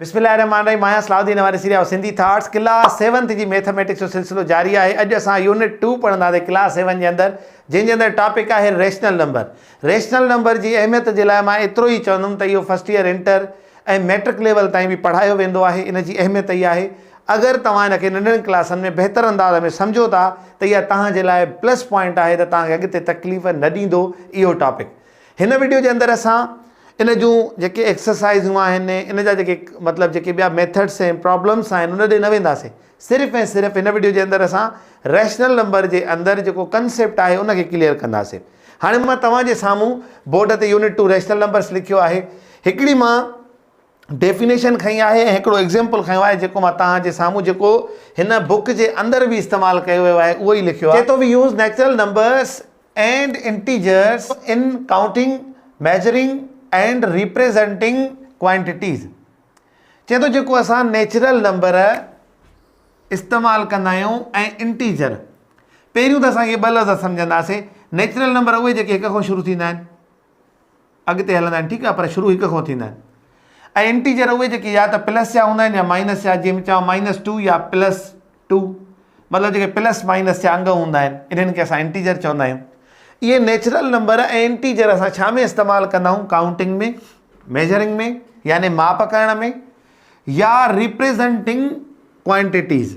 بسم الله الرحمن الرحيم آهيان Salahuddin Ohani series of Sindhi thoughts class seventh جي ميٿميٽڪس جو سلسلو جاري آهي اڄ اسان يونٽ ٽو پڙهنداسي ڪلاس سيون جي اندر جنهن جي اندر ٽاپڪ آهي ريشنل نمبر ريشنل نمبر جي اهميت جي لاء مان ايترو ئي چوندم ته اهو first year inter ۽ matric level تائين به پڙهايو ويندو آهي ان جي اهميت ئي آهي اگر توهان ان کي ننڍڙن ڪلاسن ۾ بهتر انداز ۾ سمجهو ٿا ته اها توهان جي لاء پلس پوائنٽ آهي ته توهان کي اڳتي تڪليف نه ڏيندو اهو ٽاپڪ هن وڊيو جي اندر اسان ان جون جيڪي ايڪسرسائزون آهن ان جا جيڪي مطلب جيڪي ٻيا ميٿڊس ۽ پرابلمس آهن ان ڏي نه وينداسين صرف ۽ صرف هن وڊيو جي اندر اسان ريشنل نمبر جي اندر جيڪو ڪنسيپٽ آهي ان کي ڪليئر ڪنداسين هاڻي مان توهان جي سامهون بورڊ تي يونٽ ٽو ريشنل نمبرس لکيو آهي هڪڙي مان ڊيفينيشن کنئي آهي ۽ هڪڙو ايگزيمپل کنيو آهي جيڪو مان توهان جي سامهون جيڪو هن بوڪ جي اندر به استعمال ڪيو ويو آهي اهو ئي لکيو آهي چئي ٿو we use natural numbers and integers in counting measuring and representing quantities چئي ٿو جيڪو اسان نيچرل نمبر استعمال ڪندا آهيون ۽ انٽيجر پهريون ته اسان اهي ٻه لفظ سمجهنداسين نيچرل نمبر اهي جيڪي هڪ کان شروع ٿيندا آهن اڳتي هلندا آهن ٺيڪ آهي پر شروع هڪ کان ٿيندا آهن ۽ انٽيجر اهي جيڪي يا ته پلس جا هوندا آهن يا مائنس جا جنهن ۾ چوان مائنس ٽو يا پلس ٽو مطلب جيڪي پلس مائنس جا انگ هوندا آهن انهن کي اسان انٽيجر چوندا آهيون اهي نيچرل نمبر ۽ انٽيجر اسان ڇا ۾ استعمال ڪندا آهيون ڪائونٽنگ ۾ ميجرنگ ۾ يعني ماپ ڪرڻ ۾ يا ريپريزنٽنگ ڪوانٽيٽيز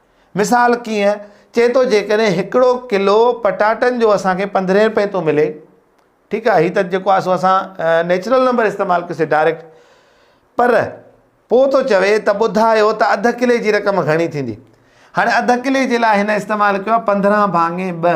مثال ڪيئن؟ چئي ٿو جيڪڏهن هڪڙو ڪلو پٽاٽن جو اسانکي پندرهين رپئي ٿو ملي ٺيڪ آهي هي ته جيڪو آهي سو اسان نيچرل نمبر استعمال ڪيسي ڊائريڪٽ پر پوء ٿو چوي ته ٻڌايو ته اڌ ڪلي جي رقم گهڻي ٿيندي هاڻي اڌ ڪلي جي لاء هن استعمال ڪيو آهي پندرهن ڀاڱي ٻه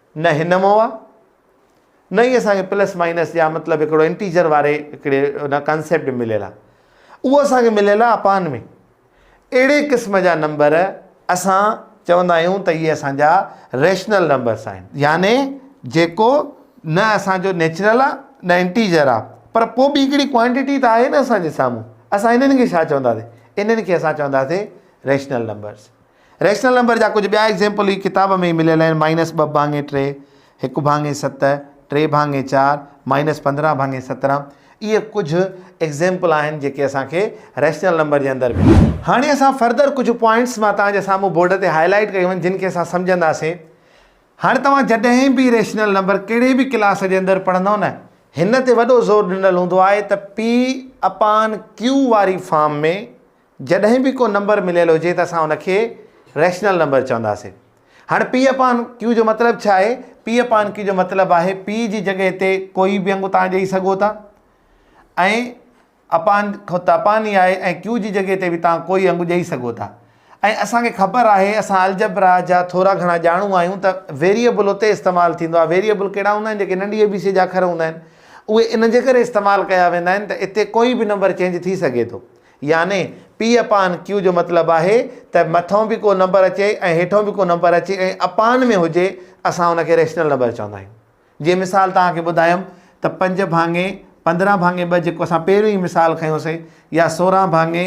نه هن مئو آ نه ئي اسان کي پلس مائنس يا مطلب هڪڙو انٽيجر واري هڪڙي ان ڪانسيپٽ ۾ مليل آ اهو اسان کي مليل آ اپان ۾ اهڙي قسم جا نمبر اسان چوندا آهيون ته اهي اسان جا ريشنل نمبرس آهن يعني جيڪو نه اسان جو نيچرل آ نه انٽيجر آ پر پوء به هڪڙي ڪوانٽيٽي ته آهي نه اسان جي سامهون اسان هنن کي ڇا چونداسين هنن کي اسان چونداسين ريشنل نمبرس ريشنل نمبر جا ڪجهه ٻيا ايگزيمپل هي ڪتاب ۾ ئي مليل آهن، مائنس ٻه ڀاڱي ٽي، هڪ ڀاڱي ست، ٽي ڀاڱي چار، مائنس پندرهن ڀاڱي سترهن. اهي ڪجهه ايگزيمپل آهن جيڪي اسان کي ريشنل نمبر جي اندر مليا. هاڻي اسان فردر ڪجهه پوائنٽس مان توهان جي سامهون بورڊ تي هاء لائيٽ ڪيون آهن جن کي اسان سمجهنداسين. هاڻي توهان جڏهن به ريشنل نمبر ڪهڙي به ڪلاس جي اندر پڙهندؤ نه هن تي وڏو زور ڏنل هوندو آهي ته P اپان Q واري فارم ۾ جڏهن به ڪو نمبر مليل هجي ته اسان ان کي ريشنل نمبر چونداسين. هاڻي P upon Q جو مطلب ڇا آهي؟ P upon Q جو مطلب آهي P جي جڳهه تي ڪوئي به انگ توهان ڏئي سگهو ٿا ۽ upon کان ته upon ئي آهي ۽ Q جي جڳهه تي به توهان ڪوئي انگ ڏئي سگهو ٿا ۽ اسان کي خبر آهي اسان الجبرا جا ٿورا گهڻا ڄاڻو آهيون ته ويريئبل اتي استعمال ٿيندو آهي ويريئبل ڪهڙا هوندا آهن جيڪي ننڍي اي بي سي جا اکر هوندا آهن اهي ان جي ڪري استعمال ڪيا ويندا آهن ته اتي ڪوئي به نمبر چينج ٿي سگهي ٿو يعني P upon Q جو مطلب آهي ته مٿئون به ڪو نمبر اچي ۽ هيٺئون به ڪو نمبر اچي ۽ اپان ۾ هجي اسان ان کي ريشنل نمبر چوندا آهيون. جيئن مثال توهان کي ٻڌايم ته پنج ڀاڱي پندرهن ڀاڱي ٻه جيڪو اسان پهريون ئي مثال کنيوسين يا سورهن ڀاڱي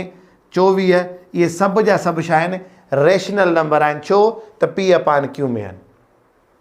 چوويهه اهي سڀ جا سڀ ڇا آهن ريشنل نمبر آهن ڇو ته P upon Q ۾ آهن.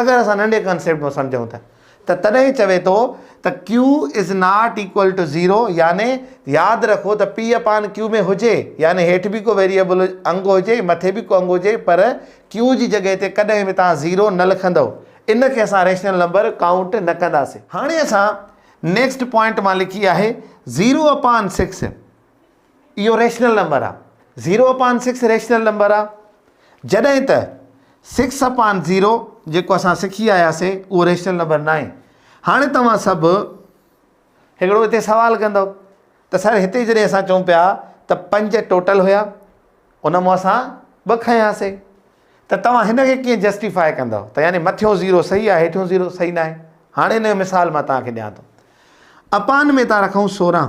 اگر اسان ننڍي ڪانسيپٽ مان سمجهون ته ته تڏهن چوي ٿو ته Q is not equal to zero يعني ياد رکو ته P اپان Q ۾ هجي يعني هيٺ به ڪو ويريبل انگ هجي مٿي به ڪو انگ هجي پر Q جي جڳهه تي ڪڏهن به توهان زيرو نه لکندؤ ان کي اسان ريشنل نمبر ڪائونٽ نه ڪنداسين. هاڻي اسان نيڪسٽ پوائنٽ مان لکي آهي زيرو اپان سڪس. اهو ريشنل نمبر آ. Zero upon six rational number آ. جڏهن ته سڪس اپان زيرو جيڪو اسان سکي آياسي اهو ريشنل نمبر ناهي. هاڻي توهان سڀ هڪڙو هتي سوال ڪندو ته سر هتي جڏهن اسان چون پيا ته پنج ٽوٽل هيا ان مون اسان ٻه کنياسي ته توهان هن کي ڪيئن جسٽيفاء ڪندو ته يعني مٿيون زيرو صحيح آهي هيٺيون زيرو صحيح ناهي. هاڻي ان جو مثال مان توهان کي ڏيان ٿو. اپان ۾ ٿا رکون سورهن.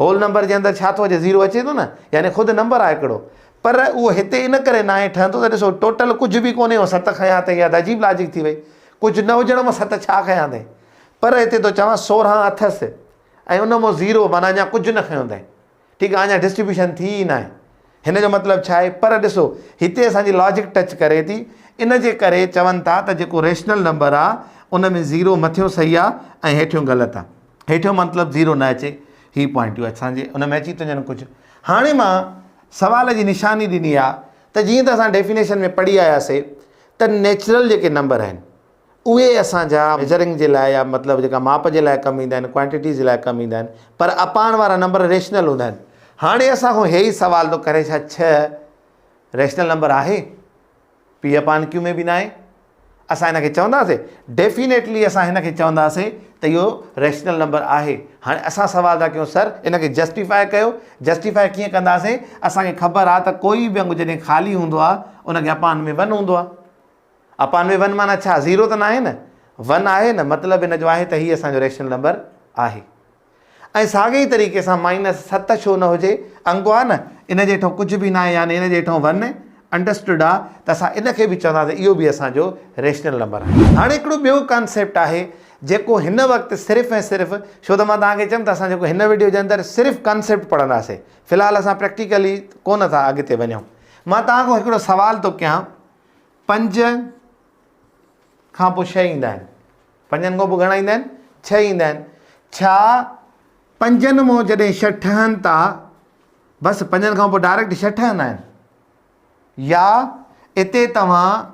هول نمبر جي اندر ڇا ٿو اچي زيرو اچي ٿو نه يعني خود نمبر آهي هڪڙو پر اهو هتي ان ڪري ناهي ٺهندو ته ڏسو ٽوٽل ڪجهه به ڪونهي ست کنيا اٿئي اها ته عجيب لاجڪ ٿي وئي ڪجهه نه هجڻ مان ست ڇا کنيا اٿئي پر هتي ٿو چوان سورهن اٿس ۽ ان مون زيرو معنيٰ اڃا ڪجهه نه کنيو اٿئي ٺيڪ آهي اڃا ڊسٽريبيوشن ٿي ئي ناهي هن جو مطلب ڇا آهي؟ پر ڏسو هتي اسان جي لاجڪ ٽچ ڪري ٿي ان جي ڪري چون ٿا ته جيڪو ريشنل نمبر آهي ان ۾ زيرو مٿيون صحيح آهي ۽ هيٺيون غلط آهي هيٺيون مطلب زيرو نه اچي هي پوائنٽ يو اسان جي ان ۾ اچي ٿيون وڃن ڪجهه هاڻي مان سوال جي نشاني ڏني آهي ته جيئن ته اسان ڊيفينيشن ۾ پڙهي آياسي ته نيچرل جيڪي نمبر آهن اهي اسان جا ميجرنگ جي لاء يا مطلب جيڪا ماپ جي لاء ڪم ايندا آهن، ڪوانٽيٽيز جي لاء ڪم ايندا آهن، پر اپاڻ وارا نمبر ريشنل هوندا آهن. هاڻي اسان کان هي ئي سوال ٿو ڪري ڇا ڇهه ريشنل نمبر آهي؟ پي اپان ڪيو ۾ به ناهي. اسان هن کي چونداسين؟ ڊيفينيٽلي اسان هن کي چونداسين ته اهو ريشنل نمبر آهي. هاڻي اسان سوال ٿا ڪيون سر ان کي جسٽيفائي ڪيو. جسٽيفائي ڪيئن ڪنداسين؟ اسان کي خبر آهي ته ڪوئي به انگ جڏهن خالي هوندو آهي ان کي اپان ۾ ون هوندو آهي. اپان ۾ ون معنيٰ ڇا؟ زيرو ته ناهي نه؟ ون آهي نه؟ مطلب ان جو آهي ته هي اسان جو ريشنل نمبر آهي. ۽ ساڳئي طريقي سان مائنس ست ڇو نه هجي؟ انڪو آهي نه؟ ان جي هيٺون ڪجهه به ناهي يعني ان جي هيٺون ون انڊرسٽوڊ آهي ته اسان ان کي به چونداسين اهو به اسان جو ريشنل نمبر آهي. هاڻي هڪڙو ٻيو ڪانسيپٽ آهي جيڪو هن وقت صرف ۽ صرف ڇو ته مان توهان کي چيم ته اسان جيڪو هن وڊيو جي اندر صرف ڪانسيپٽ پڙهنداسين في الحال اسان پريڪٽيڪلي ڪونه ٿا اڳتي وڃون. مان توهان کان هڪڙو سوال ٿو ڪيان. پنج کان پوء ڇهه ايندا آهن پنجن کان پوء گهڻا ايندا آهن ڇهه ايندا آهن ڇا پنجن مون جڏهن ڇهه ٺهن ٿا بس پنجن کان پوء ڊائريڪٽ ڇهه ٺهندا آهن يا اتي توهان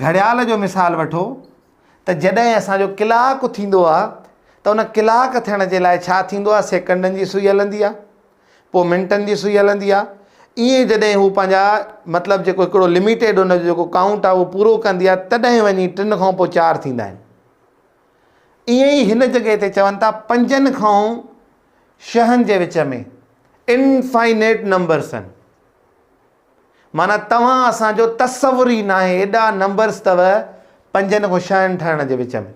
گهڙيال جو مثال وٺو ته جڏهن اسانجو ڪلاڪ ٿيندو آهي ته ان ڪلاڪ ٿيڻ جي لاء ڇا ٿيندو آهي سيڪنڊن جي سوئي هلندي آهي پوء منٽن جي سوئي هلندي آ. ائين جڏهن هو پنهنجا مطلب جيڪو هڪڙو لميٽيڊ ان جو جيڪو ڪائونٽ آ اهو پورو ڪندي آ تڏهن وڃي ٽن کان پوء چار ٿيندا آهن. ائين ئي هن جڳهه تي چون ٿا پنجن کان شهن جي وچ ۾ Infinite Numbers آهن. معنيٰ توهان اسان جو تصور ئي ناهي ايڏا نمبرز اٿو پنجن کان شهن ٺهڻ جي وچ ۾.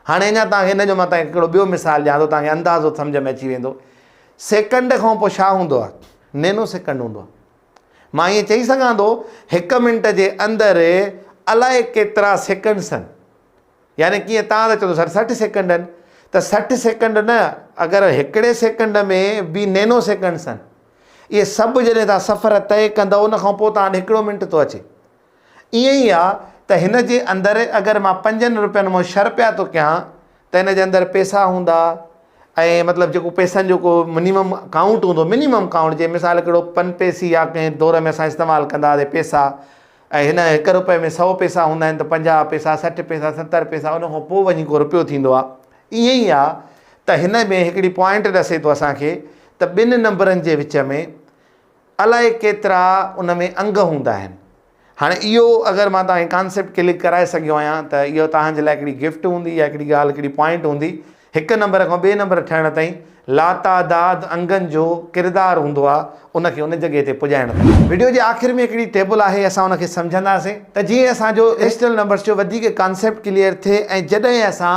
هاڻي اڃا توهان کي ان جو مان توهان کي هڪڙو ٻيو مثال ڏيان ٿو توهان کي اندازو سمجهه ۾ اچي ويندو سيڪنڊ کان پوء ڇا هوندو آهي نينو سيڪنڊ هوندو آهي مان ائين چئي سگهان ٿو هڪ منٽ جي اندر الائي ڪيترا سيڪنڊس آهن يعني ڪيئن تان ته چوندو سر سٺ سيڪنڊ آهن ته سٺ سيڪنڊ نه اگر هڪڙي سيڪنڊ ۾ به نينو سيڪنڊس آهن اهي سڀ جڏهن تان سفر طئي ڪندو ان کان پوء تان هڪڙو منٽ ٿو اچي ائين ئي آ ته هن جي اندر اگر مان پنجن روپين مون شر پيا ٿو ڪيان ته هن جي اندر پيسا هوندا ۽ مطلب جيڪو پيسن جو ڪو منيمم ڪائونٽ هوندو منيمم ڪائونٽ جي مثال ڪهڙو پن پيسي يا ڪنهن دور ۾ اسان استعمال ڪندا هئاسي پيسا ۽ هن هڪ روپئي ۾ سو پيسا هوندا آهن ته پنجاهه پيسا سٺ پيسا ستر پيسا ان کان پوء وڃي ڪو روپيو ٿيندو آ ائين ئي آ ته هن ۾ هڪڙي پوائنٽ ڏسي ٿو اسان کي ته ٻن نمبرن جي وچ ۾ الائي ڪيترا ان ۾ انگ هوندا آهن. هاڻي اهو اگر مان توهان کي ڪانسيپٽ ڪلڪ ڪرائي سگهيو آهيان ته اهو توهان جي لاء هڪڙي گفٽ هوندي يا هڪڙي ڳالهه هڪڙي پوائنٽ هوندي هڪ نمبر کان ٻئي نمبر ٺهڻ تائين لاتعداد انگن جو ڪردار هوندو آهي ان کي ان جڳهه تي پڄائڻ تائين. وڊيو جي آخر ۾ هڪڙي ٽيبل آهي اسان ان کي سمجهنداسين ته جيئن اسان جو ريشنل نمبرز جو وڌيڪ ڪانسيپٽ ڪليئر ٿئي ۽ جڏهن اسان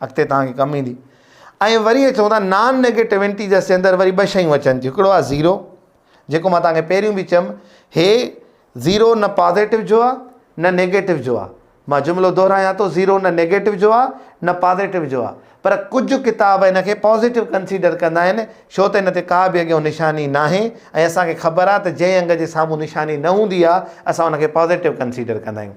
اڳتي توهان کي ڪم ايندي ۽ وري چون ٿا نان نيگيٽوينٽي جا سندر وري ٻه شيون اچن ٿيون هڪڙو آهي زيرو جيڪو ماں توهان کي پهريون به چيم هي زيرو نه پازيٽو جو آهي نه نيگيٽو جو آهي ماں جملو دهرايان ٿو زيرو نه نيگيٽو جو آهي نه پازيٽو جو آهي پر ڪجهه ڪتاب هن کي پازيٽو ڪنسيڊر ڪندا آهن شو ته هن تي ڪا به اڳيون نشاني نه آهي ۽ اسان کي خبر آهي ته جنهن انگ جي سامهون نشاني نه هوندي آهي اسان ان کي پازيٽو ڪنسيڊر ڪندا آهيون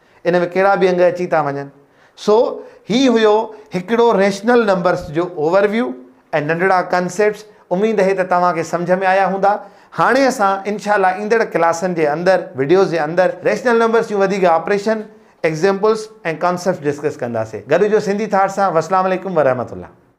ان ۾ ڪهڙا به انگ اچي ٿا وڃن. سو هي هيو هڪڙو ريشنل نمبرس جو اوور ويو ۽ ننڍڙا ڪنسيپٽس اميد هي ته توهان کي سمجهه ۾ آيا هوندا. هاڻي اسان انشاء الله ايندڙ ڪلاسن جي اندر وڊيوز جي اندر ريشنل نمبرس جون وڌيڪ آپريشن، ايگزيمپلس ۽ ڪانسيپٽس ڊسڪس ڪنداسي. گڏ هجو سنڌي ٿاٽس سان وسلام عليڪم ورحمة الله.